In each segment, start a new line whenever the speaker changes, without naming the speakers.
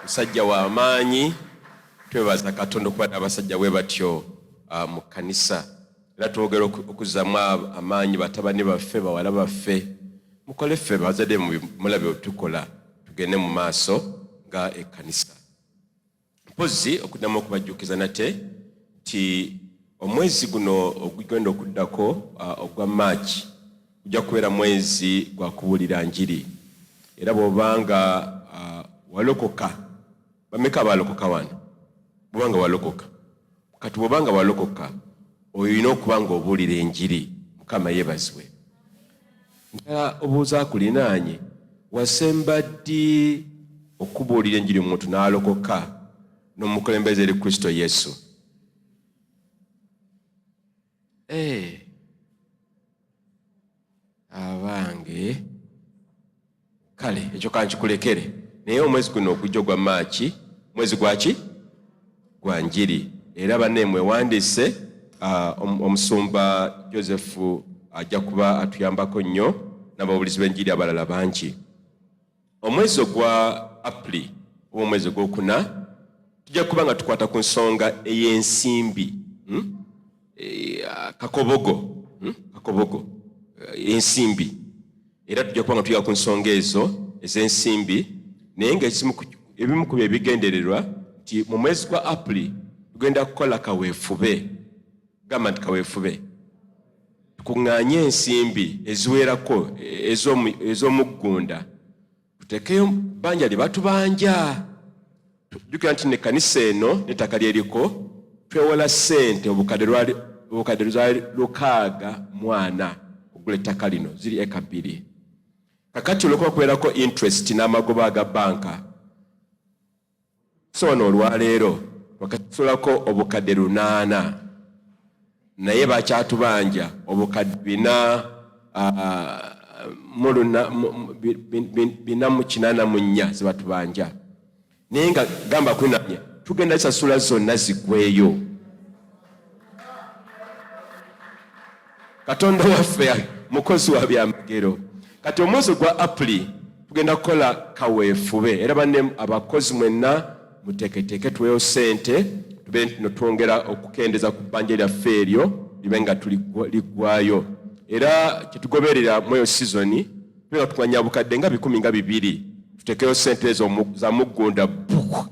musajja wa maanyi twebaza katonda okuba n'abasajja bwe batyo uh, mu kkanisa era twogera okuzzamu amaanyi batabani baffe bawala baffe mukole ffe bazadde mulabe otukola tugende mu maaso nga ekkanisa mpozzi okuddamu okubajjukiza nate nti omwezi guno ogugenda okuddako uh, ogwa maaki Gujja kubeera mwezi gwa kubuulira njiri, era bw'oba nga uh, walokoka, bameka abalokoka wano? Bw'oba nga walokoka, kati bw'oba nga walokoka, olina okuba ng'obuulira enjiri. Mukama yebazibwe. Njala obuuza kulinaanye, wasemba ddi okubuulira enjiri omuntu n'alokoka n'omukulembeze eri Kristo Yesu? Eh. abange kale ekyo kankikulekere naye omwezi guno okujja ogwa maaki mwezi gwaki gwa njiri era banne mwewandiise ah, omusumba joseph ajja kuba atuyambako nnyo n'ababulizi b'enjiri abalala bangi Omwezi ogwa Apuli oba omwezi ogwokuna tujja kuba nga tukwata ku nsonga ey'ensimbi hmm? eh, kakobogo hmm? kakobogo eh, ensimbi era tujja kuba nga tuyiga ku nsonga ezo ez'ensimbi naye nga ebimu ku byebigendererwa nti mu mwezi gwa Apuli tugenda kukola kaweefube gamba nti kaweefube Tukuŋŋaanye ensimbi eziwerako ez'omuggunda, tutekeyo bbanja lye batubanja. Jjukira nti ne kanisa eno n'ettaka lyeriko twewola ssente obukadde lwali lukaaga mwana okugula ettaka lino ziri eka bbiri. Kakati olwokuba kubeerako interest n'amagoba aga banka so wano olwaleero twakakisulako obukadde lunaana naye bakyatubanja obukadde bina bina mukinana munya zebatubanja naye nga gamba kunanya tugenda sasula zonna zigweyo katonda waffe mukozi wa byamagero kati omwezi gwa apuli tugenda kukola kaweefube era banne abakozi mwenna muteeketeeke tuweyo sente tube ntino twongera okukendeza ku bbanja lyaffe eryo libe nga tuliggwayo era kyetugoberera mweyo sizoni tube nga tumanya bukadde nga bikumi nga bibiri tutekeyo sente ezo za muggunda buku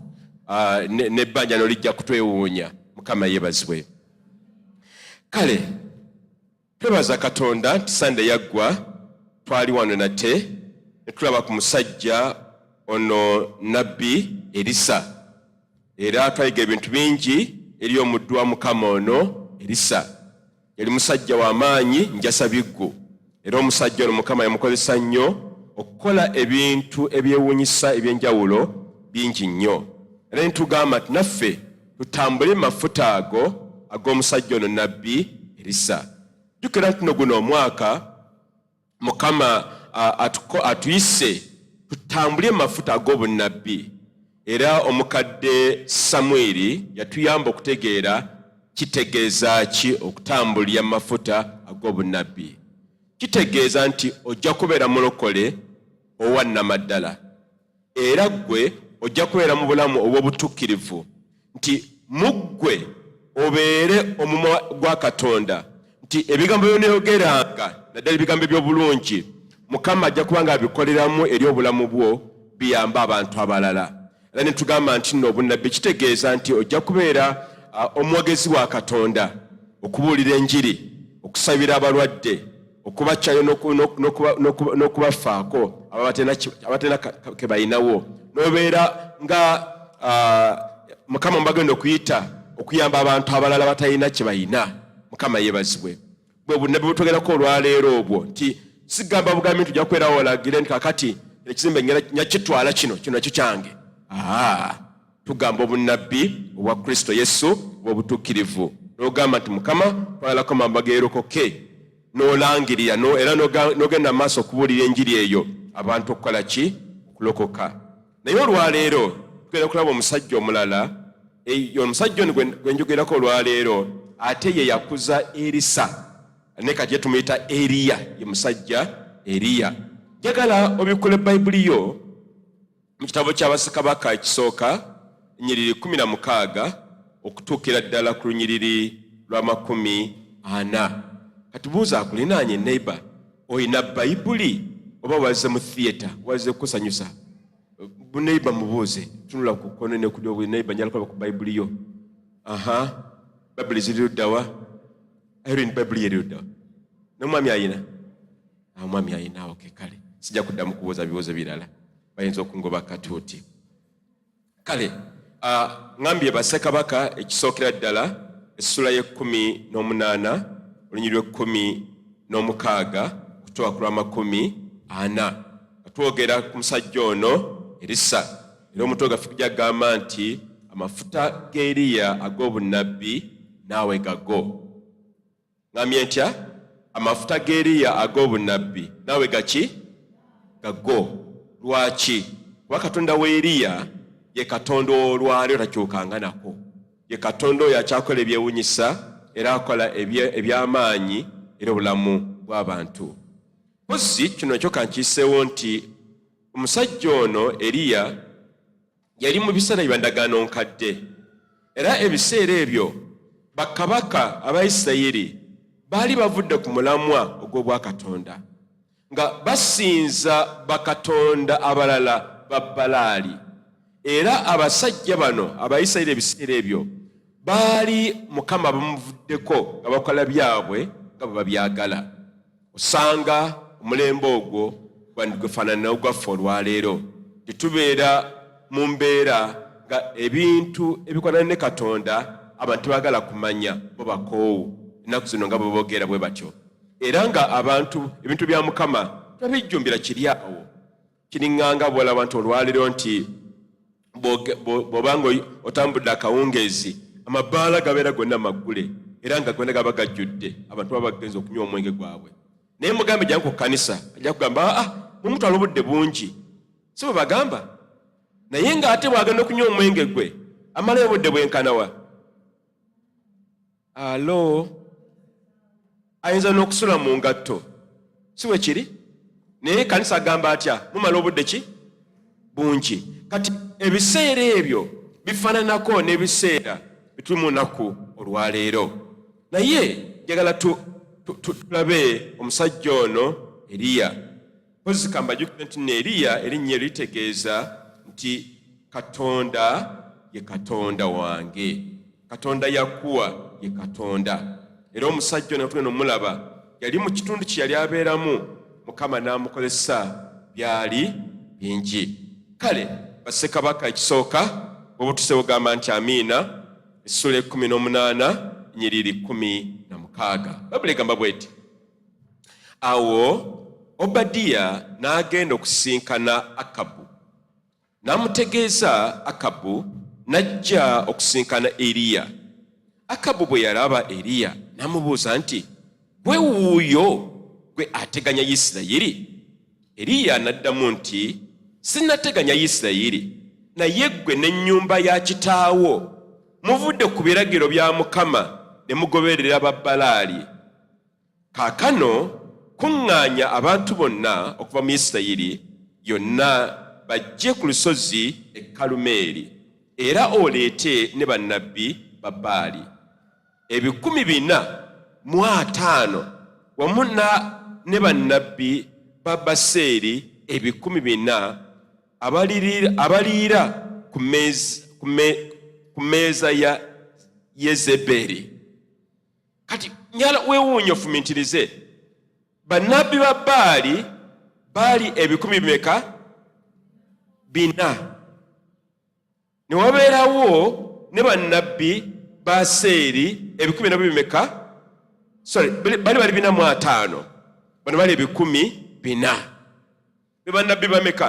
ah, nebbanja nolijja kutwewuunya mukama yebazibwe kale twebaza katonda nti sande yaggwa twali wano nate netulaba ku musajja ono nabbi erisa era twayiga ebintu bingi eri omuddu wa mukama ono erisa yali musajja wa maanyi njasa biggu era omusajja ono mukama yamukozesa nnyo okukola ebintu ebyewuunyisa eby'enjawulo bingi nnyo era nitugamba nti naffe tutambule mu mafuta ago ag'omusajja ono nabbi erisa jjukira nti no guno omwaka mukama atuyise tutambule mafuta ag'obunnabbi era omukadde samwiri yatuyamba okutegeera kitegeeza ki okutambulira mafuta ag'obunnabbi kitegeeza nti ojja kubeera mulokole owannamaddala Era ggwe ojja kubeera mu bulamu obw'obutuukirivu, nti mu ggwe obeere omumwa gwa Katonda, nti ebigambo by'onooyogeranga, naddala ebigambo eby'obulungi, Mukama ajja kuba ng'abikoleramu eri obulamu bwo, biyambe abantu abalala. Era ne tugamba nti nno obunnabbi kitegeeza nti ojja kubeera omwogezi wa Katonda, okubuulira enjiri, okusabira abalwadde, okubakyayo n'okubafaako abatalina kebalinawo nobeera nga mukama mubagenda okuyita okuyamba abantu abalala batalina kyebalina mukama yebazibwe bwebunabbi butwogerako olwaleero obwo nti sigamba bugambi nti ojakwerawo olagire nti kakati ekizimbe nyakitwala kino kino nakyo kyange Tugamba obunnabbi obwa Kristo Yesu obw'obutuukirivu n'ogamba nti Mukama twagalako mamba geerokoke n'olangirira no, era n'ogenda mu maaso okubuulira enjiri eyo abantu okukola ki okulokoka naye olwaleero tugenda kulaba omusajja omulala omusajja ono gwe njogerako olwaleero ate ye yakuza erisa ne kati ye tumuyita eriya ye musajja eriya njagala obikule bayibuli yo Mu kitabo kya Bassekabaka ekisooka nnyiriri kkumi na mukaaga okutuukira ddala ku lunyiriri lwa makumi ana. Katubuuza akulinaanye neighbor, olina Bayibuli oba wazze mu theatre, wazze kukusanyusa? Buneighbor mubuuze, tunula ku kkono ne ku ddyo, neighbor njala kulaba ku Bayibuli yo. Aha, Bayibuli ziri luddawa? Irene, Bayibuli yeri luddawa? N'omwami alina? awo mwami ayinaawo kekale sijja kuddamu kubuuza bibuuzo birala bayinza okungoba katuuti kale ŋambye bassekabaka ekisookera ddala essula y'ekkumi n'omunaana olunyiri lw'ekkumi n'omukaaga okutuwa ku lw'amakumi ana nga twogera ku musajja ono erisa era omuntu ogaffe kujja kugamba nti amafuta g'eriya ag'obunnabbi naawe gago Ngambye ntya amafuta g'eriya ag'obunnabbi naawe gaki gago lwaki kuba katonda wa eriya ye katonda olwalyo takyukanga nako ye katonda oyo akyakola ebyewunyisa era akola eby'amaanyi era obulamu bw'abantu mpozi kino kyo kankiiseewo nti omusajja ono eriya Yali mu biseera bya ndagaano nkadde, era ebiseera ebyo bakabaka aba Isirayiri baali bavudde ku mulamwa ogw'obwakatonda nga basinza bakatonda abalala ba Balaali. Era abasajja bano aba Isirayiri ebiseera ebyo baali Mukama bamuvuddeko nga bakola byabwe nga bwe babyagala. osanga omulembe ogwo gwandigwefaananira ogwaffe olwaleero tetubeera mu mbeera nga ebintu ebikwanana ne katonda abantu tebagala kumanya bo bakoowu ennaku zino nga bwebogeera bwe batyo era nga abantu ebintu bya mukama tebabijjumbira kiri awo Kiringanga bwolaba nti olwaliro nti bwoba nga otambudde akawungeezi amabaala gabeera gonna maggule era nga gonna gaba gajjudde abantu baba bagenza okunywa omwenge gwabwe naye mugambe jangu ku kanisa ajja kugamba aa ah, mumutwala obudde bungi si bwe bagamba naye nga ate bwagenda okunywa omwenge gwe amalayo obudde bwenkanawa alo ayinza n'okusula mu ngatto si we kiri naye kanisa agamba atya mumala obudde ki bungi kati ebiseera ebyo bifaananako n'ebiseera bituli mu nnaku olwaleero naye njagala tulabe omusajja ono eriya Mpozzi ka mbajjukize nti nno Eriya erinnya eryo litegeeza nti Katonda ye Katonda wange. Katonda Yakuwa ye Katonda. Era omusajja ono tugenda omulaba yali mu kitundu kye yali abeeramu Mukama n'amukozesa byali bingi. Kale Bassekabaka ekisooka bwoba otuse ogamba nti amiina essula ekumi n'omunaana nyiriri kumi na mukaaga. Babula egamba bweti. Awo Obadiya n'agenda okusisinkana Akabu, n'amutegeeza Akabu n'ajja okusisinkana Eriya. Akabu bwe yalaba Eriya n'amubuuza nti, gwe wuuyo gwe ateganya Yisirayiri? Eriya n'addamu nti, sinnateganya Yisirayiri, naye ggwe n'ennyumba ya kitaawo muvudde ku biragiro bya Mukama ne mugoberera Babbalaali. Kaakano kuŋŋaanya abantu bonna okuva mu Isirayiri yonna bajje ku lusozi e Kalumeeri, era oleete ne bannabbi ba Baali ebikumi bina mu ataano wamu ne bannabbi ba Baseeri ebikumi bina abaliira ku mmeeza ya Yezeberi. kati nyala wewuunyo fumintirize bannabbi ba baali baali ebikumi bimeka bina ne wabeerawo ne bannabbi ba seeri ebikumi nabyo bimeka sorry bali bali bina mu ataano bano bali ebikumi bina be bannabbi bameka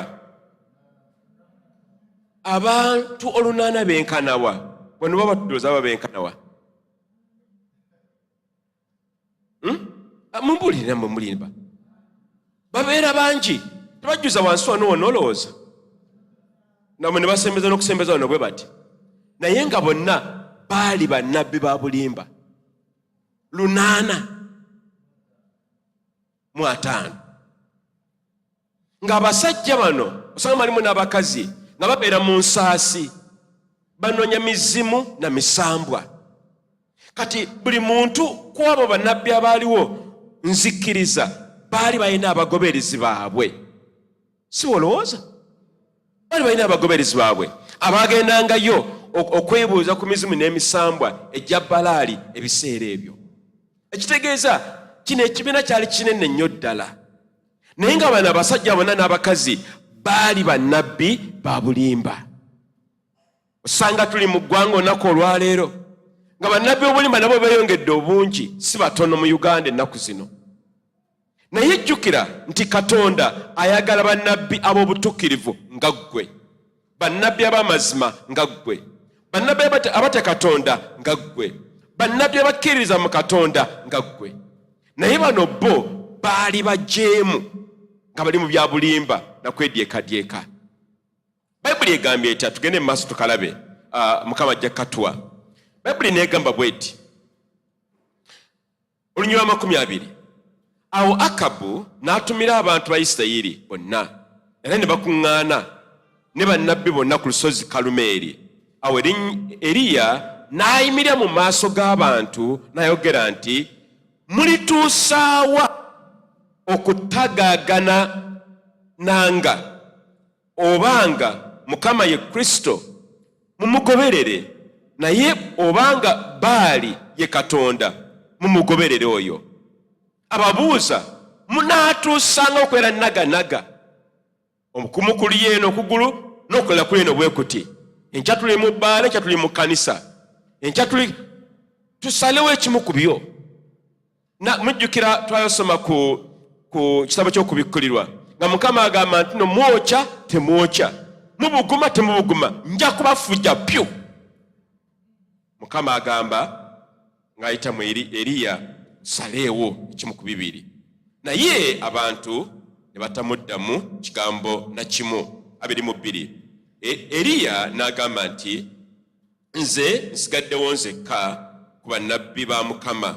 abantu olunaana benkanawa bano baba tudooza aba benkanawa hmm? ah, mumbulire namwe mulimba babeera bangi tebajjuza wansi wano wona olowooza namwe ne basembeza n'okusembeza wano bwe bati naye nga bonna baali bannabbi ba bulimba lunaana mu ataano ng'abasajja bano osanga malimu n'abakazi nga babeera mu nsaasi banonya mizimu na misambwa kati buli muntu ku abo bannabbi abaaliwo nzikkiriza baali balina abagoberezi baabwe si wolowooza bali balina abagoberezi baabwe abaagendangayo okwebuuza ku mizimu n'emisambwa egya balaali ebiseera ebyo ekitegeeza kino ekibiina kyali kinene nnyo ddala naye nga bano abasajja bonna n'abakazi baali bannabbi ba bulimba osanga tuli mu ggwanga olunaku olwaleero nga bannabbi obulimba nabo beeyongedde obungi si batono mu uganda ennaku zino naye jjukira nti katonda ayagala bannabbi ab'obutuukirivu nga ggwe bannabbi ab'amazima nga ggwe bannabbi abatya katonda nga ggwe bannabbi abakkiririza mu katonda nga ggwe naye bano bo baali bajeemu nga bali mu bya bulimba nakwedyeekadyeka bayibuli egambye etya tugende mu maaso tukalabe ah, mukama ajja katuwa bayibuli neegamba bweti olunyuma amakumi abiri awo akabu n'atumira abantu ba isirayiri bonna era ne bakuŋŋaana ne bannabbi bonna ku lusozi kalumeeri awo eriya n'ayimirira mu maaso g'abantu n'ayogera nti mulituusaawa okutagaagana nanga Obanga Mukama ye Kristo, mumugoberere, naye obanga Baali ye Katonda, mumugoberere oyo. Ababuuza, munaatuusanga okwera naganaga omukumu kuli yeeno okugulu n'okukola kuli eno bwe kuti enkya tuli mu bbaala enkya tuli mu kkanisa enkya tuli tusalewo ekimu ku byo na mujjukira twayosoma ku ku kitabo ky'okubikkulirwa nga mukama agamba nti no mwokya temwokya mubuguma temubuguma nja kubafuja pyu mukama agamba ng'ayita mu eriya saleewo ekimu ku bibiri naye abantu ne batamuddamu kigambo na kimu abiri mu bbiri e, eriya n'agamba nti Nze nsigaddewo nzekka ku bannabbi ba Mukama,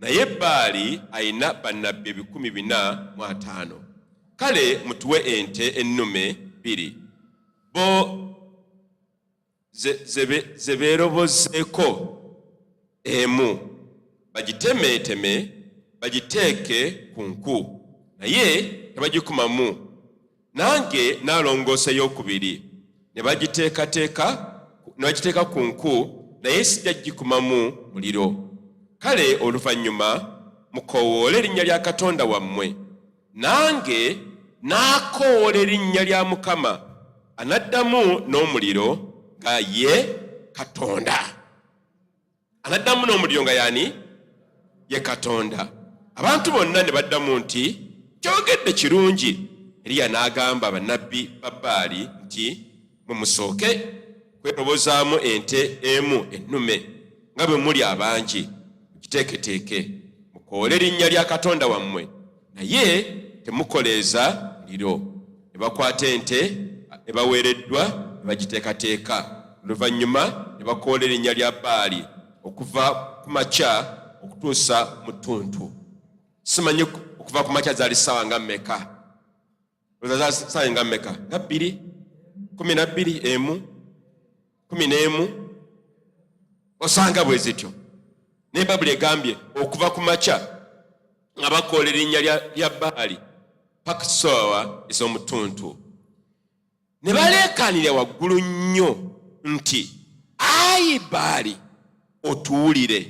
naye Baali alina bannabbi ebikumi bina mu ataano. Kale mutuwe ente ennume bbiri, bo ze beerobozeeko. emu bagitemeeteme bagiteeke ku nku naye ne bagikumamu nange naalongoosa eyokubiri ne bagiteekateeka ne bagiteeka ku nku naye sijja gikumamu muliro kale oluvannyuma mukowoola erinnya lya katonda wammwe nange n'akoola erinnya lya mukama anaddamu n'omuliro nga ye katonda anaddamu n'omuliro nga yani ye katonda abantu bonna ne baddamu nti kyogedde kirungi eriya n'agamba bannabbi ba bbaali nti mwe musooke kwetobozaamu ente emu ennume nga bwe muli abangi mukiteeketeeke mukoole erinnya lya katonda wammwe naye temukoleeza muliro ne bakwata ente ebaweereddwa ne bagiteekateeka oluvannyuma ne bakoola erinnya lya baali okuva ku makya okutuusa mu ttuntu simanyi okuva ku makya zaali ssaawa nga mmeka ozaza saayi nga meka nga bbiri kumi na bbiri emu kumi n'emu osanga bwe zityo naye babuli egambye okuva ku makya nga bakoola erinnya lya baali paka soowa ez'omutuntu ne baleekaanira waggulu nnyo nti ayi baali otuwulire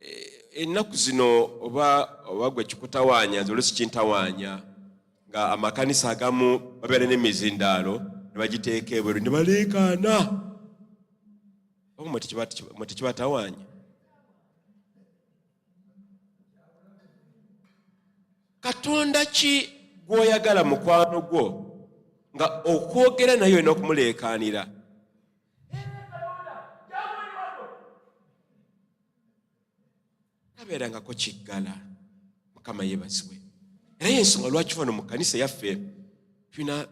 Eh, ennaku zino oba oba gwe kikutawaanya nze olusi kintawaanya nga amakanisa agamu babeera n'emizindaalo ne bagiteeka ebweru ne baleekaana oba mwe tekibatawaanya katonda ki gw'oyagala mukwano gwo nga okwogera naye olina okumuleekaanira tabeerangako kiggala mukama yebazibwe era yensonga lwaki fano mu kanisa yaffe tulina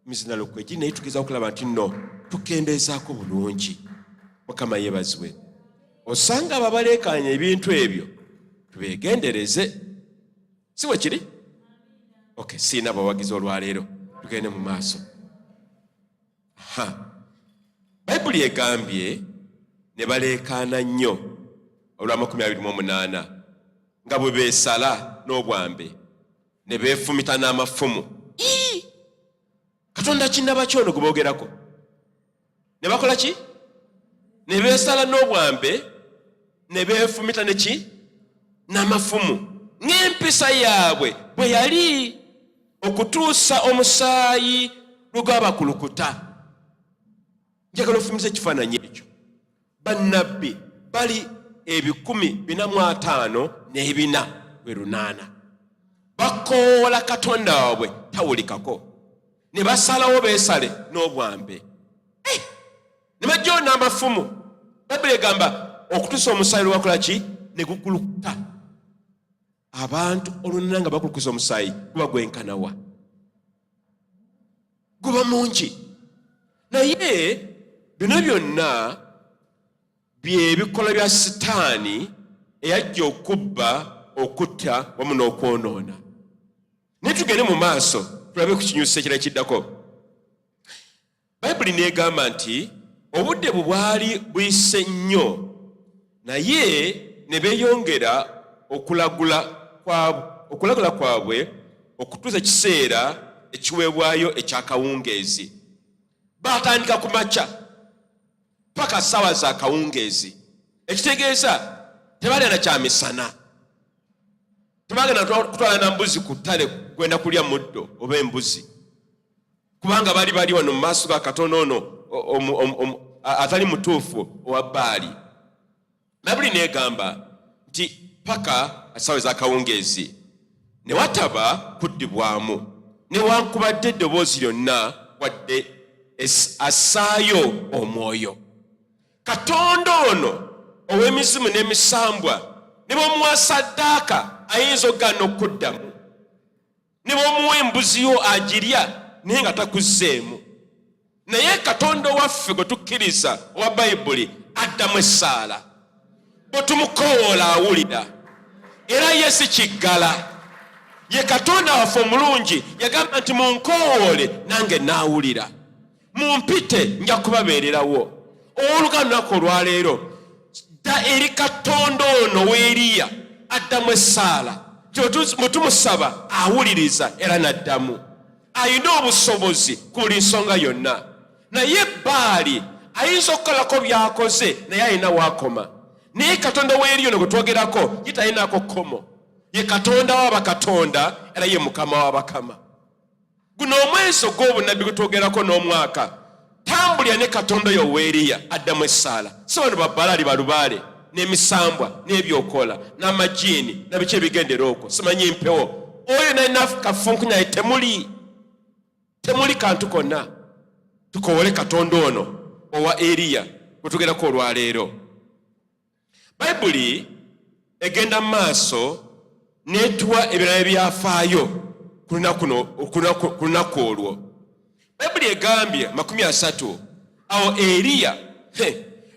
mizinalo kwegi naye tugeza okulaba nti no tukendeezaako bulungi mukama yebazibwe osanga ababaleekaanya ebintu ebyo tubegendereze si bwe kiri ok siina abawagizi olwaleero tugende mu maaso ha bayibuli egambye ne baleekaana nnyo olw'amakumi abiri mu omunaana nga bwe beesala n'obwambe ne beefumita n'amafumu katonda kinaba ki ono gwe boogerako ne bakola ki ne beesala n'obwambe ne beefumita neki n'amafumu ng'empisa yaabwe bwe yali okutuusa omusaayi lwe gwabakulukuta njagala ofumiza ekifaananyi ekyo bannabbi bali ebikumi bina mu ataano n'ebina lwe lunaana bakoola katonda waabwe tawulikako ne basalawo beesale n'obwambe ne bajoona amafumu bayibuli egamba okutusa omusaayi lwakola ki ne gukulukuta abantu olunana nga bakulukusa omusaayi guba gwenkanawa guba mungi naye bino byonna byebikola bya sitaani eyajja okubba okutta wamu n'okwonoona naye tugende mu maaso tulabe ku kinyusi ekira kiddako Bayibuli n'egamba nti obudde bwe bwali buyise nnyo naye ne beeyongera okulagula kwabwe okulagula kwabwe okutuusa ekiseera ekiweebwayo ekyakawungeezi baatandika ku makya paka ssaawa za kawungeezi ekitegeeza tebalya na kyamisana tebagenda kutwala na mbuzi ku ttale kwenda kulya muddo oba embuzi kubanga bali bali wano mu maaso ga katonda ono atali mutuufu owa baali babuli negamba nti paka asawe zakawungeezi ne wataba kuddibwamu newankubadde eddoboozi lyonna wadde assaayo omwoyo katonda ono ow'emizimu n'emisambwa ne bwemuwa saddaaka ayinza okugaana okuddamu ne bwomuwa embuzi yo agirya naye nga takuzzeemu naye katonda owaffe gwe tukkiriza owa bayibuli addamu essaala bwe tumukowoola awulira era ye si kiggala ye katonda waffe omulungi yagamba nti munkowoole nange naawulira mumpite nja kubabeererawo oluga lunaku olwaleero dda eri katonda ono weeriya addamu essaala mutumusaba awuliriza era naddamu alina obusobozi ku buli nsonga yonna naye baali ayinza okukolako byakoze naye alina wakoma naye katonda weeriyo no gwetwogerako ye talinako kkomo ye katonda wa bakatonda era ye mukama wa bakama guno omwezi ogw'obunabbi gutwogerako n'omwaka tambulira ne katonda oyo weeriya addamu essaala si bano babbalaali balubaale n'emisambwa n'ebyokola n'amajiini nabiki ebigendera okwo simanyi mpewo oyo nalina kafunku naye temuli temuli kantu konna tukowole katonda ono owa eriya gwetugerako olwaleero Bayibuli egenda mu maaso n'etuwa ebirala ebyafaayo ku lunaku olwo. Bayibuli egambye makumi asatu awo Eriya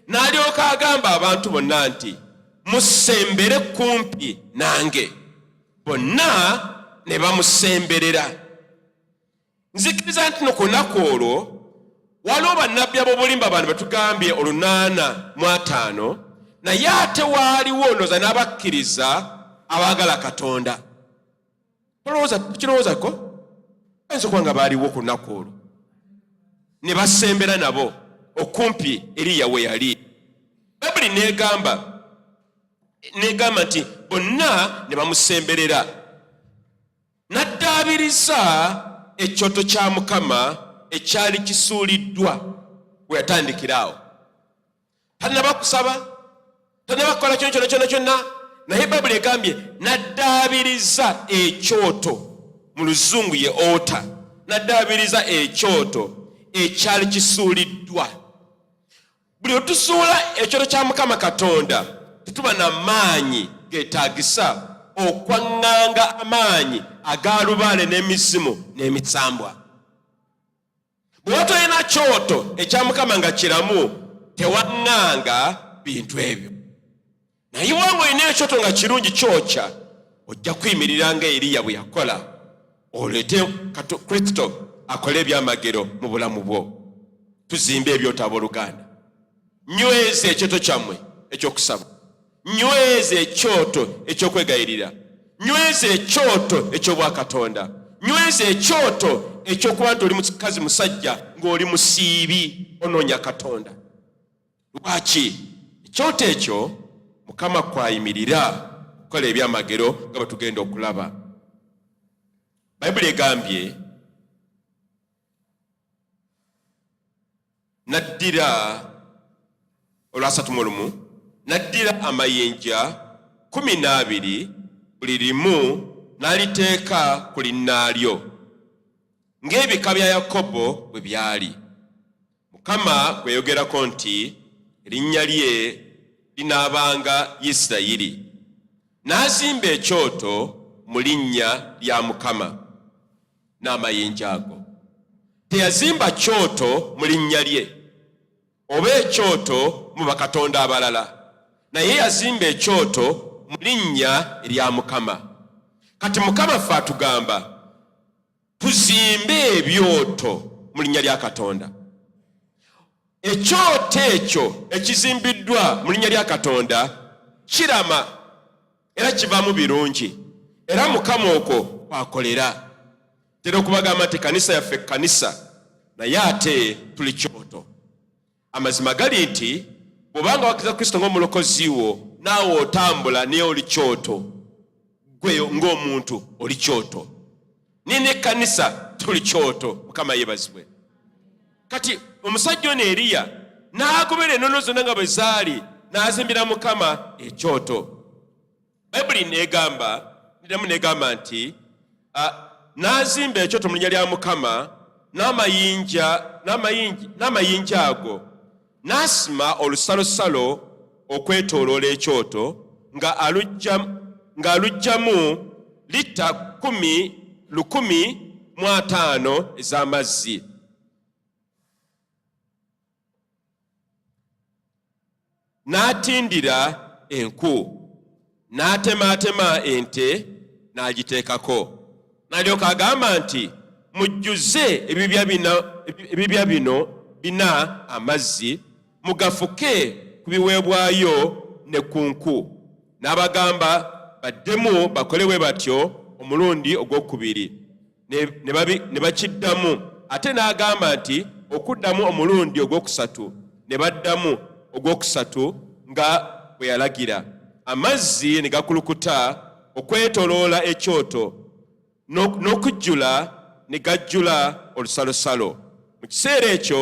n'alyoka agamba abantu bonna nti musembere kumpi nange, bonna ne bamusemberera. nzikiriza nti no ku lunaku olwo waliwo bannabbi ab'obulimba bano betugambye olunaana mu ataano naye ate waaliwo ndooza n'abakkiriza abaagala katonda kirowoozako ayinza okuba nga baaliwo ku lunaku olwo ne basembera nabo okumpi eriya we yali bayibuli negamba negamba nti bonna ne bamusemberera N'addaabiriza ekyoto kya Mukama ekyali kisuuliddwa we yatandikira awo. Tannaba kusaba, tannaba kukola kyona kyona kyona kyonna, naye Bayibuli egambye n'addaabiriza ekyoto, mu luzungu ye ota, n'addaabiriza ekyoto ekyali kisuuliddwa. Buli lwe tuzuula ekyoto kya Mukama Katonda tetuba na maanyi geetaagisa okwaŋŋanga amaanyi aga lubaale n'emizimu n'emisambwa. Bwe watolina kyoto ekya Mukama nga kiramu tewaŋŋanga bintu ebyo. naye wanga olina ekyoto nga kirungi kyokya ojja kuyimirira nga eriya bwe yakola oleete kristo akole ebyamagero mu bulamu bwo tuzimbe ebyoto abooluganda nyweza ekyoto kyammwe ekyokusaba nyweza ekyoto ekyokwegayirira nyweza ekyoto ekyobwakatonda nyweza ekyoto ekyokuba nti oli mukazi musajja ng'oli musiibi onoonya katonda lwaki ekyoto ekyo mukama kwayimirira okukola ebyamagero nga bwe tugenda okulaba bayibuli egambye naddira olwasatu mu lumu naddira amayinja kumi n'abiri buli limu n'aliteeka ku linnaalyo ng'ebika bya yakobo bwe byali Mukama gwe yogerako nti erinnya lye linaabanga Isirayiri, n'azimba ekyoto mu linnya lya Mukama n'amayinja ago. Teyazimba kyoto mu linnya lye oba ekyoto mu bakatonda abalala, naye yazimba ekyoto mu linnya erya Mukama. Kati Mukama ffe atugamba tuzimbe ebyoto mu linnya lya katonda ekyoto ekyo ekizimbiddwa mu linnya lya katonda kirama era kivaamu birungi era mukama okwo kwakolera tera okubagamba nti kanisa yaffe kanisa naye ate tuli kyoto Amazima gali nti bw'obanga wakiriza Kristo ng'omulokozi wo naawe otambula naye oli kyoto, gwe ng'omuntu oli kyoto, naye n'ekkanisa tuli kyoto. Mukama yebazibwe. Kati omusajja ono Eriya n'agobera enono zonna nga bwe zaali n'azimbira Mukama ekyoto. bayibuli negamba niddamu negamba nti n'azimba ekyoto mu linnya lya mukama n'amayinja n'amayinja ago n'asima olusalosalo okwetooloola ekyoto ng'aluggyamu litta kumi lukumi mu ataano ez'amazzi n'atindira enku n'atemaatema ente n'agiteekako n'alyoka agamba nti mujjuze ebibya bino bina amazzi mugafuke ku biweebwayo ne ku nku n'abagamba baddemu bakole bwe batyo omulundi ogwokubiri ne bakiddamu ate n'agamba nti okuddamu omulundi ogwokusatu ne baddamu ogwokusatu nga bwe yalagira amazzi ne gakulukuta okwetoloola ekyoto n'okujjula ne gajjula olusalosalo mu kiseera ekyo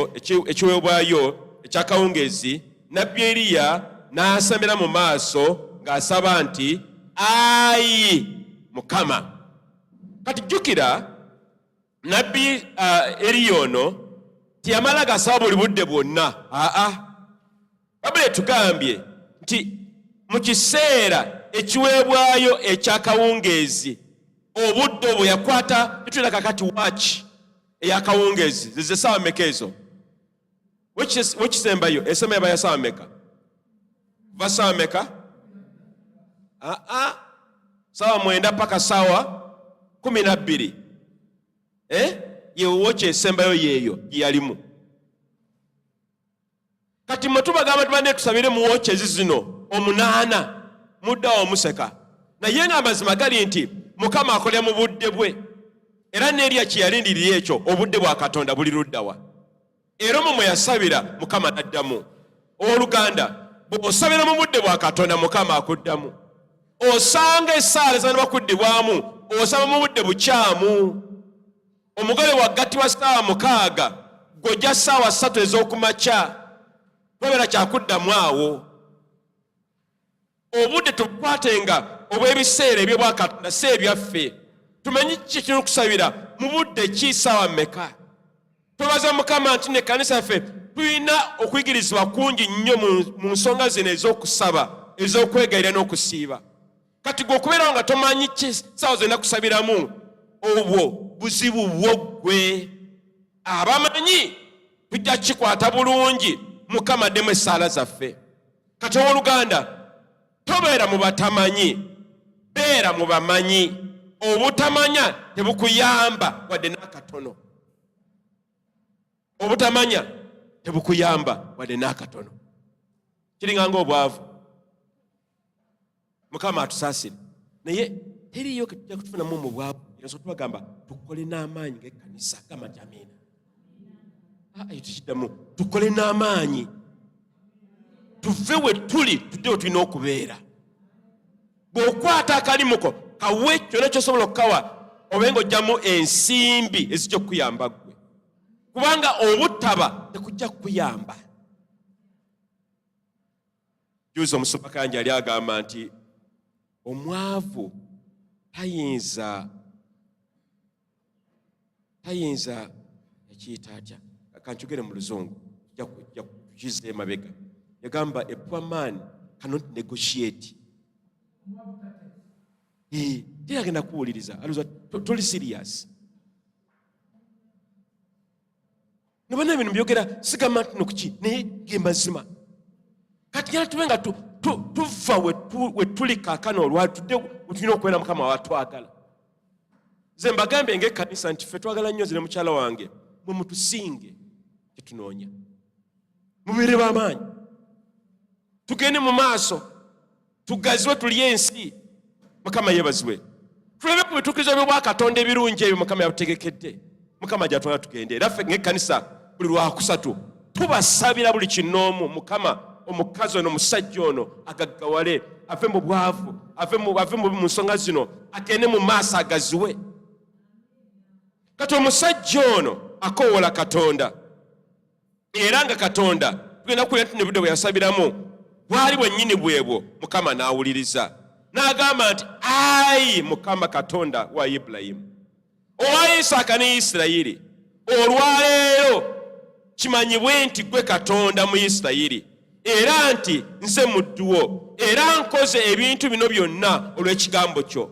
ekiweebwayo ekyakawungeezi nabbi eriya n'asamira mu maaso ng'asaba nti ayi mukama kati jjukira nabbi uh, eriya ono teyamala gasaba buli budde bwonna aa babula etugambye nti mu kiseera ekiweebwayo ekyakawungeezi obudde obwo yakwata etuyina kakati waaki eyakawungeezi zezesaawa meka ezo wekisembayo esema yaba yasameka kuva sameka aa ah, ah. sawa mwenda paka sawa kumi nabbiri eh? yewoki esembayo yeeyo gyeyalimu kati mwe tubagamba tubane tusabire mu wokyezi zino omunaana muddawo omuseka naye nga amazima gali nti mukama akolera mu budde bwe era neerya kye yalindirira ekyo obudde bwa katonda buli luddawa era omwo mwe yasabira mukama n'addamu owoluganda bw'osabira mu budde bwa katonda mukama akuddamu osanga esaala zanaba kuddibwamu osaba mu budde bukyamu omugole waggatti wa saawa mukaaga gojja saawa ssatu ez'okumakya tobeera kyakuddamu awo obudde tubukwatenga obw'ebiseera eby'obwa Katonda si ebyaffe. Tumanyi kiki ekirina okusabira mu budde ki ssaawa mmeka. Twebaza Mukama nti ne kanisa yaffe tulina okuyigirizibwa kungi nnyo mu nsonga zino ez'okusaba, ez'okwegayira n'okusiiba. Kati gwe okubeerawo nga tomanyi ki ssaawa zonna kusabiramu, obwo buzibu bwo ggwe. Abamanyi tujja kukikwata bulungi, Mukama addemu essaala zaffe. kati owoluganda tobeera mu batamanyi beera mu bamanyi obutamanya tebukuyamba wadde n'akatono obutamanya tebukuyamba wadde n'akatono kiringa nga obwavu mukama atusasire naye teriyo ketujja kutufunamu mu bwavu era so tubagamba tukole n'amaanyi ngaekkanisa gamba nti amiina ah, ayo tukiddamu tukole n'amaanyi tuve we tuli tudde we tulina okubeera bw'okwata akalimuko kawe kyona kyosobola okukawa obe nga ojjamu ensimbi ezijja okukuyamba gwe kubanga obutaba tekujja kukuyamba Juuzi omusumba Kanja yali agamba nti omwavu tayinza tayinza ekiyita atya kankyogere mu luzungu kiza emabega yagamba a poor man cannot negotiate teyagenda kuwuliriza toli serious nobana bino byogera sigamba ntino kuki naye gemazima kati gera tube nga tuva wetuli kakana olwatudde wetulina okubeera mukama watwagala ze mbagambe nga ekkanisa nti fe twagala nnyo zire mukyala wange mwe mutusinge kyetunoonya mubeere bamaanyi tugende mu maaso tugaziwe tulye ensi mukama yebaziwe tuleme ku bitukizo byobwakatonda ebirungi ebyo mukama yatutegekedde mukama gyatwala tugende era ffe ngaekkanisa buli lwakusatu tubasabira buli kinoomu mukama omukazi ono omusajja ono agaggawale ave mu bwavu ave mu nsonga zino agende mu maaso agaziwe kati omusajja ono akoowola katonda era nga katonda tugenda kuwulira nti nebudde bwe yasabiramu bwali bwennyini bwebwo mukama n'awuliriza n'agamba nti ayi mukama katonda wa ibulayimu owa isaaka ne isirayiri olwaleero kimanyibwe nti gwe katonda mu isirayiri era nti nze mudduwo era nkoze ebintu bino byonna olw'ekigambo kyo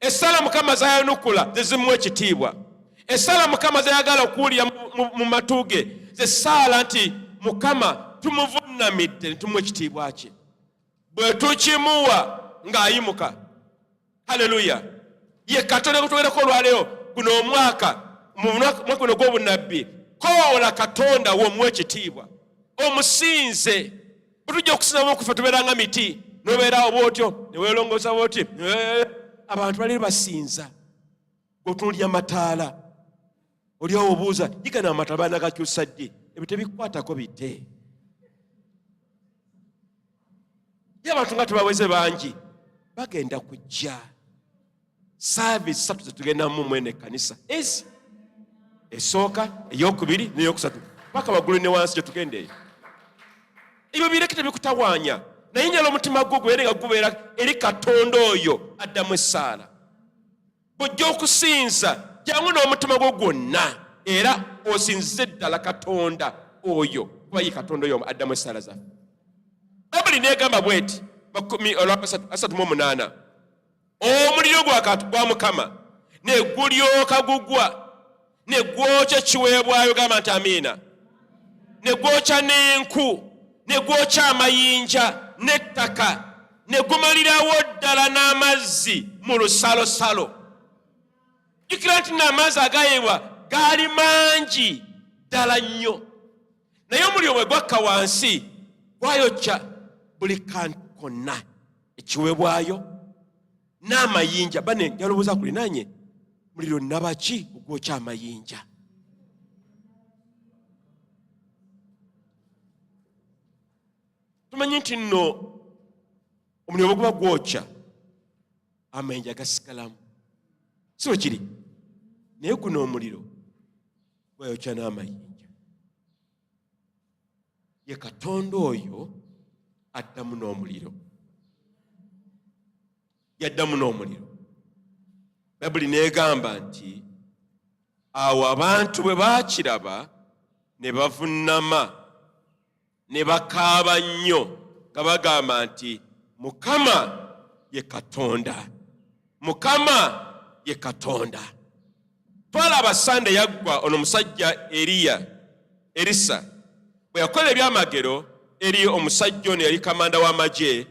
Essala Mukama zayanukula zezimu ekitiibwa. Essala Mukama zayagala okuwulira mu matu ge ze ssaala nti Mukama tumuvunnamidde ne tumuwa ekitiibwa kye. Bwe tukimuwa ng'ayimuka. Haleluya! Ye Katonda gwe twogerako olwaleero guno omwaka mu mwaka guno gw'obunnabbi, koola Katonda wo omuwa ekitiibwa, omusinze. bwetujja okusinzamu okufa tubeera nga miti nobeerawo bwotyo newelongosa bwoti eh, abantu bali basinza otunulira mataala olyawo obuuza yigana amataala banagakyusa ddi ebyo tebikwatako bite ye abantu nga tebaweze bangi bagenda kujja saaviisi satu zetugendamu mwene ekkanisa ezi esooka eyokubiri neyokusatu paka waggulu ne wansi gyetugendeeyo ebyo bireke tebikutawaanya naye nyala omutima gwo gubeere nga gubeera eri katonda oyo addamu essaala bwojja okusinza jangu n'omutima gwo gwonna era osinzize ddala katonda oyo kuba ye katonda oyo addamu essaala zaffe babuli negamba bweti makumi olwasatu mu omunaana omuliro gwa mukama ne gulyoka gugwa ne gwokya ekiweebwayo gamba nti amiina ne gwokya n'enku ne gwokya amayinja n'ettaka ne gumalirawo ddala n'amazzi mu lusalosalo jjukira nti n'amazzi agayibwa gaali mangi ddala nnyo naye omuliro bwe gwakka wansi gwayokya buli kantu konna ekiweebwayo n'amayinja bane yalowooza kulinanye muliro nabaki ogwokya amayinja tumanyi nti nno omuliro bweguba gwokya amayinja gasigalamu si wekiri naye guno omuliro bayokya n'amayinja ye katonda oyo addamu n'omuliro yaddamu n'omuliro bayibuli neegamba nti awo abantu bwe baakiraba ne bavunnama ne bakaaba nnyo nga bagamba nti mukama ye katonda mukama ye katonda twalaba sande yaggwa ono musajja eriya erisa bwe yakola ebyamagero eri omusajja ono yali kamanda w'amagye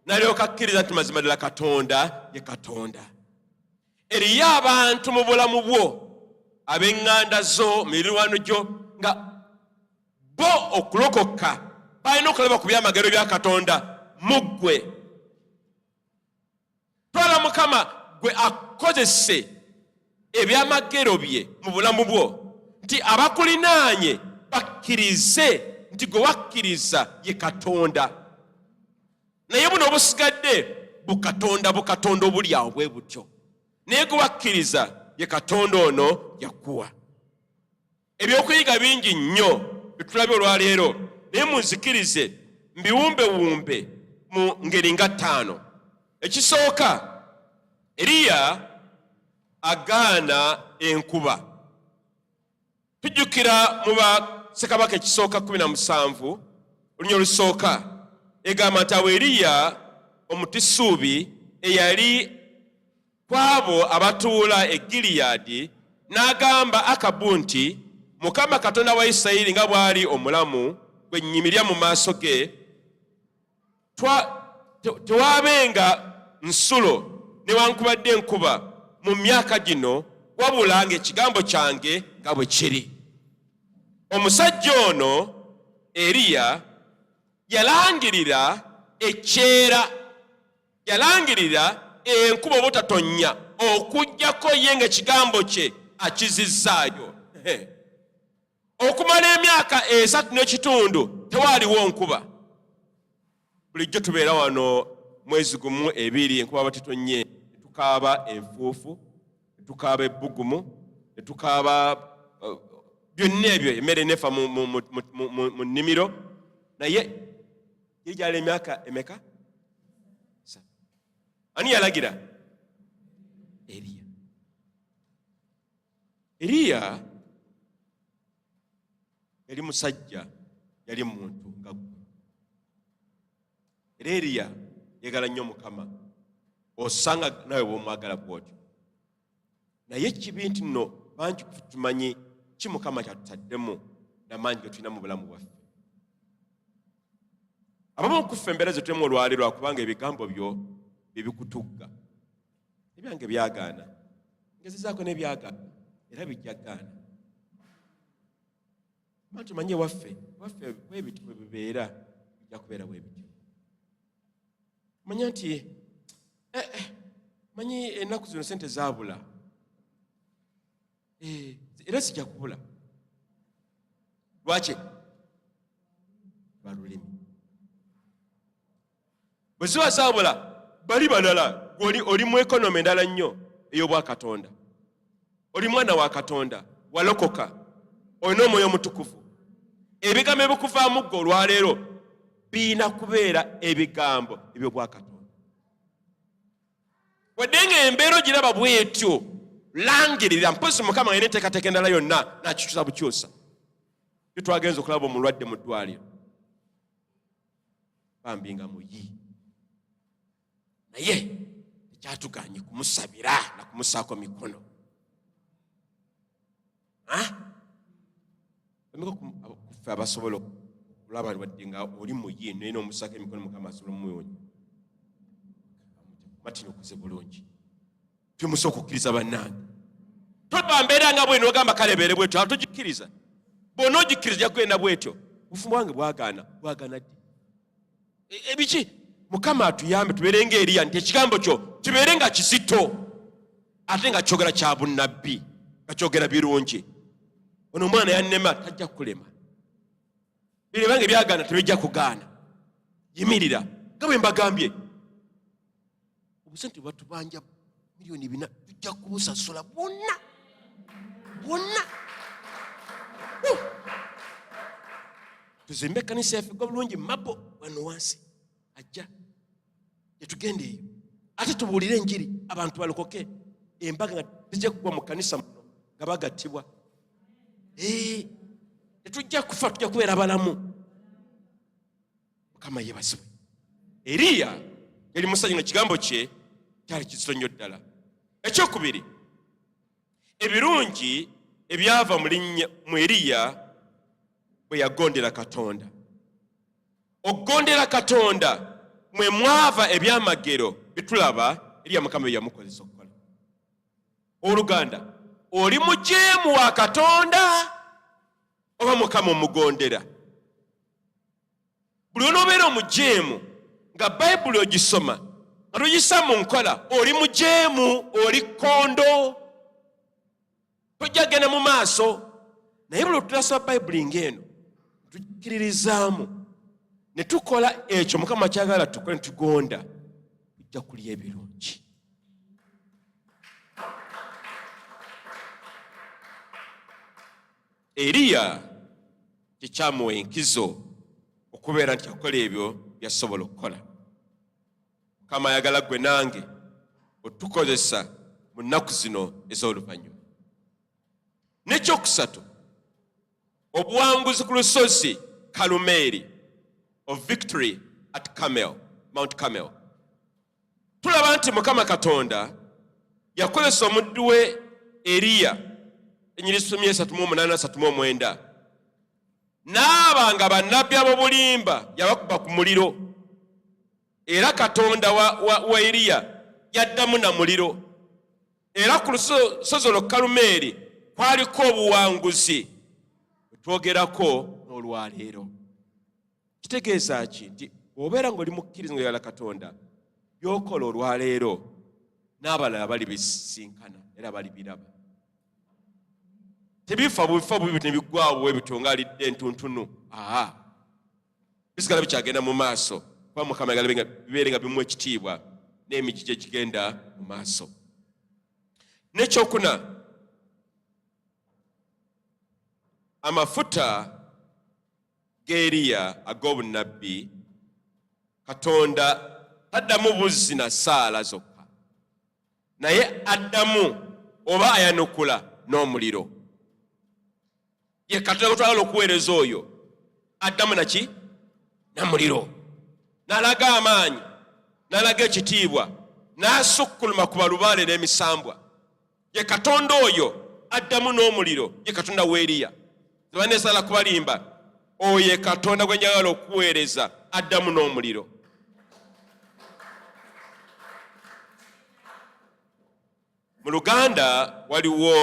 nalyoka akkiriza nti mazima ddala katonda ye katonda eriyo abantu mu bulamu bwo ab'eŋŋanda zo mirirwano gyo nga bo okulokoka balina okulaba ku byamagero bya katonda mu ggwe twala mukama gwe akozese ebyamagero bye mu bulamu bwo nti abakulinaanye bakkirize nti gwe wakkiriza ye katonda naye buno obusigadde bukatonda bukatonda obuli awo bwe butyo naye gwe wakkiriza ye katonda ono yakuwa Ebyokuyiga bingi nnyo byetulabye olwaleero, naye munzikirize mbiwumbewumbe mu ngeri nga ttaano. Ekisooka, Eriya agaana enkuba. Tujjukira mu ba Ssekabaka ekisooka kumi na musanvu olunya olusooka egamba nti awo Eriya omutisuubi eyali ku abo abatuula e Gileyaadi, n'agamba Akabu nti, Mukama Katonda wa Isirayiri nga bw'ali omulamu, gwe nnyimirira mu maaso ge, tewaabenga nsulo newankubadde enkuba mu myaka gino wabula ng'ekigambo kyange nga bwe kiri. Omusajja ono Eriya yalangirira ekyeera Yalangirira enkuba obutatonnya okuggyako ye ng'ekigambo kye akizizzaayo. Okumala emyaka esatu n'ekitundu tewaaliwo nkuba. Bulijjo tubeera wano mwezi gumu ebiri enkuba batitonye tukaaba enfuufu tukaaba ebbugumu tukaaba uh, byonna ebyo emmere nefa mu nnimiro naye yali gyali emyaka emeka ani yalagira eriya eriya yali musajja yali muntu nga gwe era eriya yagala nnyo mukama osanga nawe bwomwagala bwotyo naye kibi nti nno bangi kutumanyi ki mukama kyatutaddemu namaanyi getulina mu bulamu bwaffe abamu okuffe embeera zetulemu olwali lwakubanga ebigambo byo byebikutugga ebyange byagaana ngezezaako nebyagaana era bijja gaana Bantu manye waffe waffe bwebiti bwe bibeera bijja kubeera bwebiti manya nti eh, eh, manyi ennaku zino sente zaabula eh, era sijja kubula lwaki balulimi bwe ziba zaabula bali balala gwoli oli mu ekonome endala nnyo ey'obwakatonda oli mwana wa katonda walokoka olina omwoyo omutukuvu ebigambo ebikuvaamu gwe olwaleero birina kubeera ebigambo ebyobwakatonda wadde nga embeera ogiraba bwetyo langirira mpozi mukama nga neteekateeka endala yonna nakikyusa bukyusa tyo twagenza okulaba omulwadde mu ddwaliro bambi nga muyi naye tekyatuganye kumusabira na kumusaako mikono kuffe abasobola okulaba wadde nga oli muyi naye nomusaako emikono mukama asobola omumuyonyi matini okuze bulungi temusa okukkiriza bannange tolaba mbeera nga bwino ogamba kale beere bwetyo atogikkiriza bwona ogikkiriza ojja kugenda bwetyo obufumu bwange bwagaana bwagaana ddi e, ebiki mukama atuyambe tubeere nga eriya nti ekigambo kyo kibeere nga kizito ate nga kyogera kya bunnabbi nga kyogera birungi ono omwana yannema tajja kukulema bino bange byagaana tebijja kugaana yimirira nga bwe mbagambye obusente bwatubanja miliyoni bina tujja kubusasula bwonna bwonna tuzimbe ekkanisa yaffe gwa bulungi mabo wano wansi ajja tetugenda eyo ate tubuulire enjiri abantu balokoke embaga nga tijja kugwa mu kanisa muno nga bagattibwa tetujja kufa tujja kubeera balamu mukama yebazibwe eriya yali musajja nga kigambo kye kyali kizito nnyo ddala ekyokubiri ebirungi ebyava mu eriya bwe yagondera katonda okugondera katonda mwe mwava ebyamagero bitulaba eriya mukama byeyamukozesa okukola oluganda oli mujeemu wa katonda oba mukama omugondera buli onoobeera omujeemu nga bayibuli ogisoma nga toyisa mu nkola oli mujeemu oli kkondo tojja kugenda mu maaso naye buli otutasoma bayibuli ng'eno tukkiririzaamu ne tukola ekyo mukama kyagala tukole ne tugonda tujja kulya ebirungi Eriya tekyamuwa enkizo okubeera nti akola ebyo byasobola okukola. Mukama ayagala gwe nange otukozesa mu nnaku zino ez'oluvannyuma. N'ekyokusatu, obuwanguzi ku lusozi Kalumeeri, of victory at Carmel, Mount Carmel. tulaba nti mukama katonda yakozesa omuddu we eriya enyiri sumi esatu mu omunana asatu mu omwenda naaba nga bannabbi abobulimba yabakuba ku muliro era katonda wa, wa, wa eriya yaddamu na muliro era ku lusozi olwo kalumeeri kwaliko obuwanguzi bwetwogerako n'olwaleero kitegeeza ki nti obeera ngaoli mukkiriza nga yala katonda byokola olwaleero n'abalala bali bisinkana era bali biraba tebifa bubifa bubi nebiggwawo bwebityo nga alidde entuntunu aa bisigala bikyagenda mu maaso kuba mukama yagala bibeere nga bimu ekitiibwa n'emigi gye gigenda mu maaso nekyokuna amafuta g'eriya ag'obunnabbi katonda taddamu buzzi na saala zokka naye addamu oba ayanukula n'omuliro ye katonda gwetwagala okuweereza oyo addamu naki namuliro nalaga amaanyi nalaga ekitiibwa nasukkuluma ku balubaale n'emisambwa ye katonda oyo addamu n'omuliro ye katonda weeriya tebaneesala kubalimba oyo ye katonda gwe njagala okuweereza addamu n'omuliro mu luganda waliwo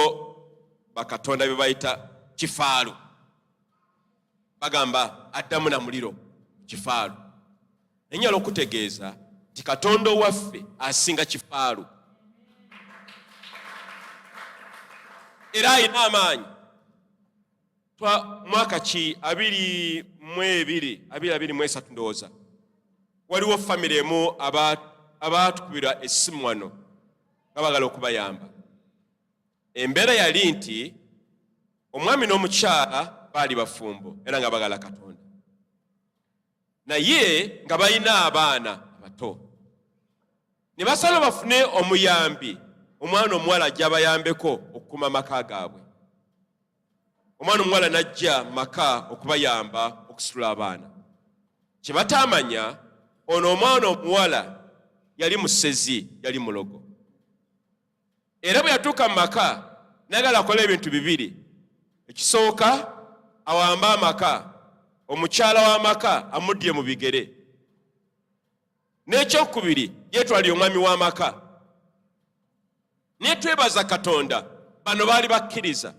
bakatonda bye bayita kifaalu bagamba addamu na muliro kifaalu naye nyala okutegeeza nti katonda owaffe asinga kifaalu era alina amaanyi mwaka ki abiri mu ebiri abiri abiri mu esatu ndowooza waliwo famire emu abaatukubirwa essimu wano nga bagala okubayamba Embeera yali nti omwami n'omukyala baali bafumbo era nga bagala Katonda, naye nga balina abaana abato, ne basala bafune omuyambi, omwana omuwala ajja abayambeko okukuuma amaka gaabwe. Omwana omuwala n'ajja mu maka okubayamba okusitula abaana. Kye bataamanya ono omwana omuwala yali musezi, yali mulogo. era bwe yatuuka mu maka nagala akola ebintu bibiri ekisooka awamba amaka omukyala w'amaka amuddye mu bigere n'ekyokubiri yeetwalira omwami w'amaka naye twebaza katonda bano baali bakkiriza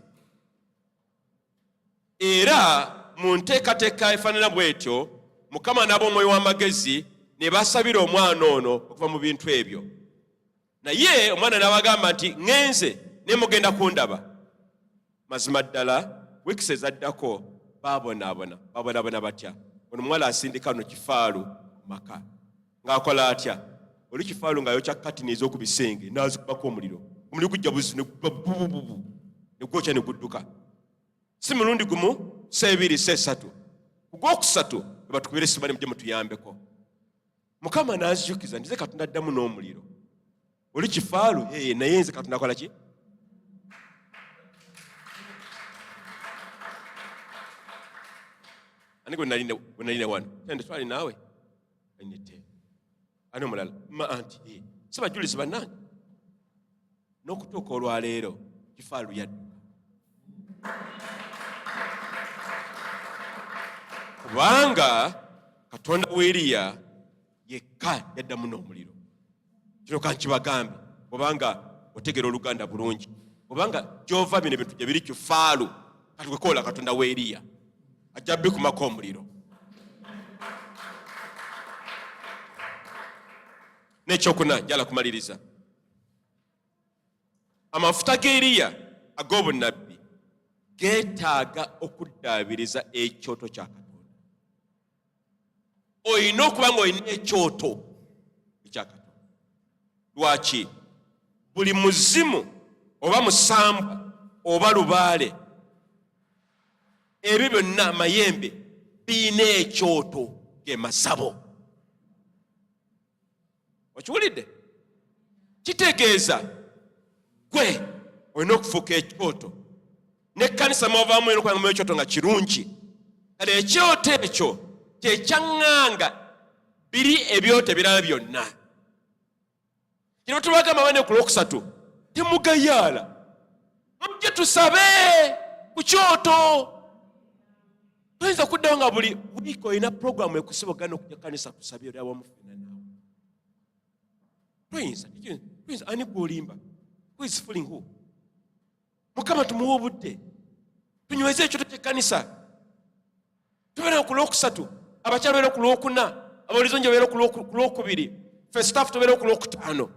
era mu nteekateeka efaanana bw'etyo mukama n'ab'omwoyo w'amagezi ne basabira omwana ono okuva mu bintu ebyo naye omwana n'abagamba nti ŋenze naye mugenda kundaba mazima ddala wiikisi ezaddako baabonaabona baabonaabona batya ono omuwala asindika no kifaalu maka ng'akola atya oli kifaalu ng'ayokya katini ez'oku bisenge n'azikubako omuliro omuliro gujja buzi negubabubububu negwokya ne gudduka si mulundi gumu seebiri seesatu ku gwokusatu ebatukubira esimanemu gye mutuyambeko mukama n'azijukiza nti ze katonda addamu n'omuliro oli kifaalu ee naye nze katonda akola ki ani gwe nalina wano tende twali naawe anete ani omulala ma anti ee sibajulizi bannange n'okutuuka olwaleero kifaalu yadduka kubanga katonda w'eriya yekka yaddamu n'omuliro kino kankibagambe obanga otegera oluganda bulungi obanga gyova bino ebintu gye biri kifaalu kati wekoola katonda w'eriya ajja bikumako omuliro n'ekyokuna njala kumaliriza amafuta ga Eriya ag'obunnabbi geetaaga okuddaabiriza ekyoto kya Katonda. Olina okuba ng'olina ekyoto ekya Katonda. Lwaki? Buli muzimu oba musambwa oba lubaale, ebyo byonna amayembe birina ekyoto ge masabo. okiwulidde kitegeeza gwe olina okufuuka ekyoto nekkanisa mwavaamu era okulanga mu ekyoto nga kirungi kale ekyoto ekyo kyekyaŋŋanga biri ebyoto ebirala byonna kino tubagamba bane ku lwokusatu temugayaala mujje tusabe ku kyoto toyinza kuddawo nga buli wiiki olina puroguramu ekusiba ogana okujja kanisa kusabye oli awamufena naawe toyinza toyinza ani gwolimba who is fooling who mukama tumuwa obudde tunyweze ekyoto kyekkanisa tubeera ku lwokusatu abakyala beera ku lwokuna abawulizo nje beera ku lwokubiri fe staff tubeera ku lwokutaano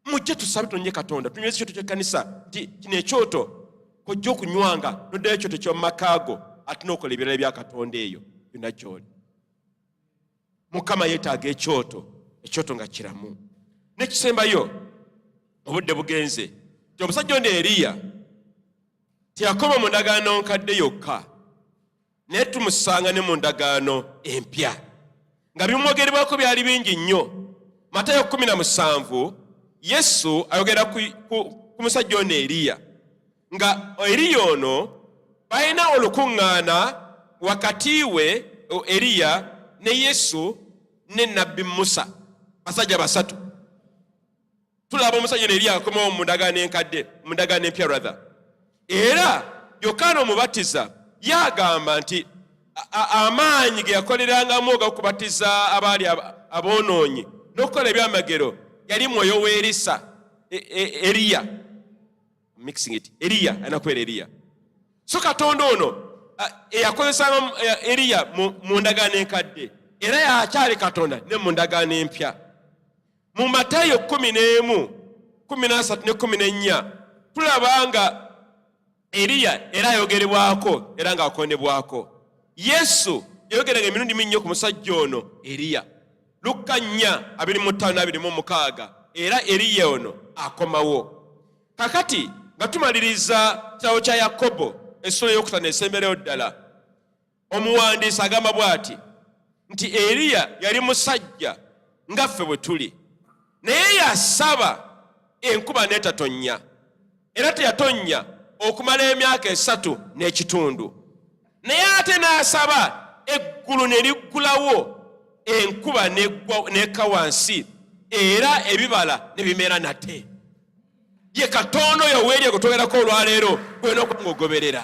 mujje tusabe tunonye katonda tunyweza ekyoto kyekkanisa nti kino ekyoto kojja okunywanga noddayo ekyoto kyomumakaago ate nokola ebirala bya katonda eyo byonna gyoli mukama yetaaga ekyoto ekyoto nga kiramu nekisembayo obudde bugenze ti omusajja ono eriya teyakoma mu ndagaano nkadde yokka naye tumusanga ne mu ndagaano empya nga bimwogerebwako byali bingi nnyo matayo 17 yesu ayogera ku, ku, ku musajja ono eriya nga eriya ono balina olukuŋŋaana wakati we eriya ne yesu ne nabbi musa basajja basatu tulaba omusajja neri akomawo mu ndagaano enkadde mu ndagaano empya rather era yokaana omubatiza yagamba nti amaanyi ge yakolerangamu ogakubatiza abaali aboonoonyi n'okukola ebyamagero yali mwoyo w'erisa e, e, eriya mixing it eriya alina kubeera eriya so katonda ono eyakozesanga eriya mu ndagaano enkadde era yakyali katonda ne mu ndagaano empya mu matayo kumi n'emu kumi n'asatu ne kumi n'ennya tulaba nga eriya era ayogerebwako era ng'akondebwako yesu yayogeranga emirundi minnyo ku musajja ono eriya lukka nnya abiri mu ttaano n'abiri mu mukaaga era eriya ono akomawo kakati nga tumaliriza kitabo kya yakobo essula eyokutano esembereyo ddala omuwandiisi agamba bw'ati nti eriya yali musajja nga ffe bwe tuli naye yasaba enkuba n'etatonnya era teyatonnya okumala emyaka esatu n'ekitundu naye ate n'asaba eggulu ne liggulawo enkuba n'ekka wansi era ebibala ne bimera nate ye katonda oyo weeri egutogerako olwaleero gwena okuba nga ogoberera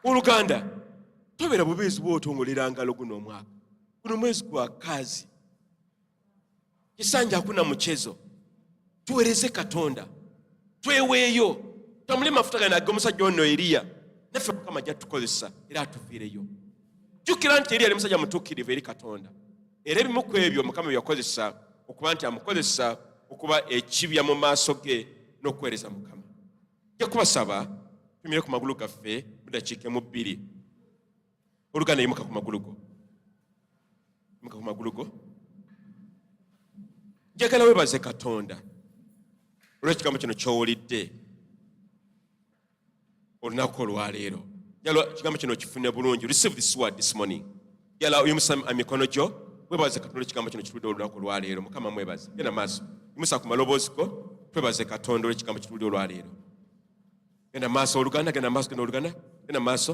oluganda tobera bubeezi bwotongolera ngalo guno omwaka guno mwezi gwa kazi kisanja akuna mukyezo tuwereze katonda tweweeyo tamuli mafuta gana age omusajja ono eriya naffe mukama ajja tukozesa era atuviireyo jjukira nti eriya ali musajja mutuukirivu eri katonda era ebimu ku ebyo mukama byeyakozesa okuba nti amukozesa okuba ekibya mu maaso ge n'okuweereza mukama ja kubasaba tumire ku magulu gaffe mudakiike mu bbiri oluganda yimuka ku magulu go yimuka ku magulu go njagala webaze katonda olwekigambo kino kyowulidde olunaku olwaleero jala ekigambo kino kifune bulungi receive this word this morning jala oyimusa emikono gyo webaze katonda ekigambo kino kitulide olunaku olwaleero mukama mwebaze genda maaso yimusa ku maloboozi go twebaze katonda olwekigambo kitulide olwaleero genda maaso oluganda genda maaso genda oluganda genda maaso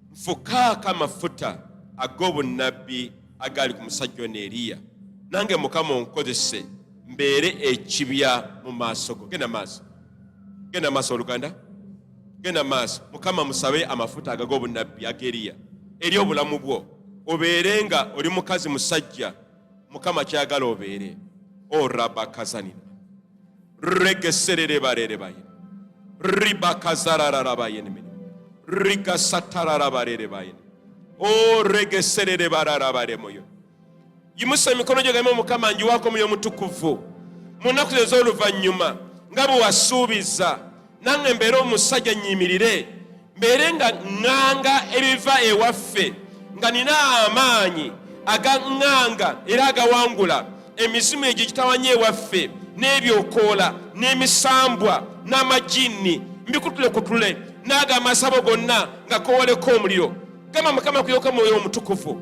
nfukaako amafuta ag'obunnabbi agaali ku musajja ono eriya nange mukama onkozese mbeere ekibya mu maaso go genda maaso genda maaso oluganda genda maaso mukama musabe amafuta agaga obunnabbi ageriya eri obulamu bwo obeere nga oli mukazi musajja mukama kyagala obeere orabakazanira oh, regesererebarerebaye ribakazarararabayenimini rigasatararabarerebayeni o oh, regesererebararabaremoyo yimusa emikono gyo galima mukama njiwako muyo mutukuvu mu nnaku ze ez'oluvannyuma nga bwe wasuubiza nange mbeere omusajja nyimirire mbeere nga ŋŋanga ebiva ewaffe nga nina amaanyi agaŋŋanga era agawangula emizimu egyo egitawanya ewaffe n'ebyokoola n'emisambwa n'amajinni mbikutulekutule n'ago amasabo gonna nga kowoleko omuliro gamba mukama kuyoka mwoyo omutukuvu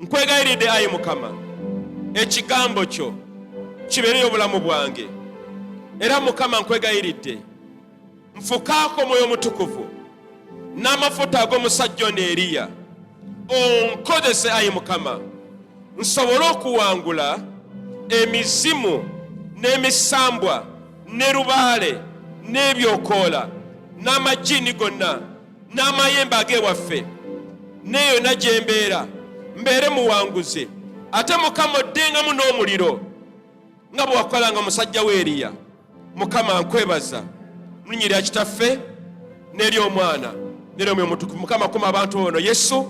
nkwegayiridde ayi mukama ekigambo kyo kibeereyo obulamu bwange era mukama nkwegayiridde nfukaako omwoyo omutukuvu n'amafuta ag'omusajja ono eriya onkozese ayi mukama nsobole okuwangula emizimu n'emisambwa ne lubaale n'ebyokoola n'amajiini gonna n'amayembe ag'ewaffe n'eyo na gye mbeera mbeere muwanguzi ate mukama oddengamu n'omuliro nga bwe wakolanga musajja we eriya mukama nkwebaza mulinnya erya kitaffe n'eri omwana n'eri omwoyo mutukuvu mukama kuma abantu ono yesu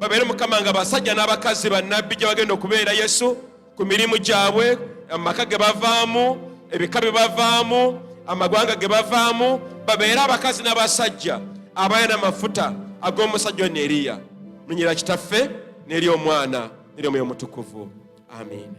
babeere mukama nga basajja n'abakazi bannabbi gye bagenda okubeera yesu ku mirimu gyabwe amaka ge bavaamu ebika bye bavaamu amagwanga ge bavaamu babeere abakazi n'abasajja abalina amafuta ag'omusajja ono eriya nunyira kitaffe n'eri omwana n'eri omwoyo omutukuvu amiina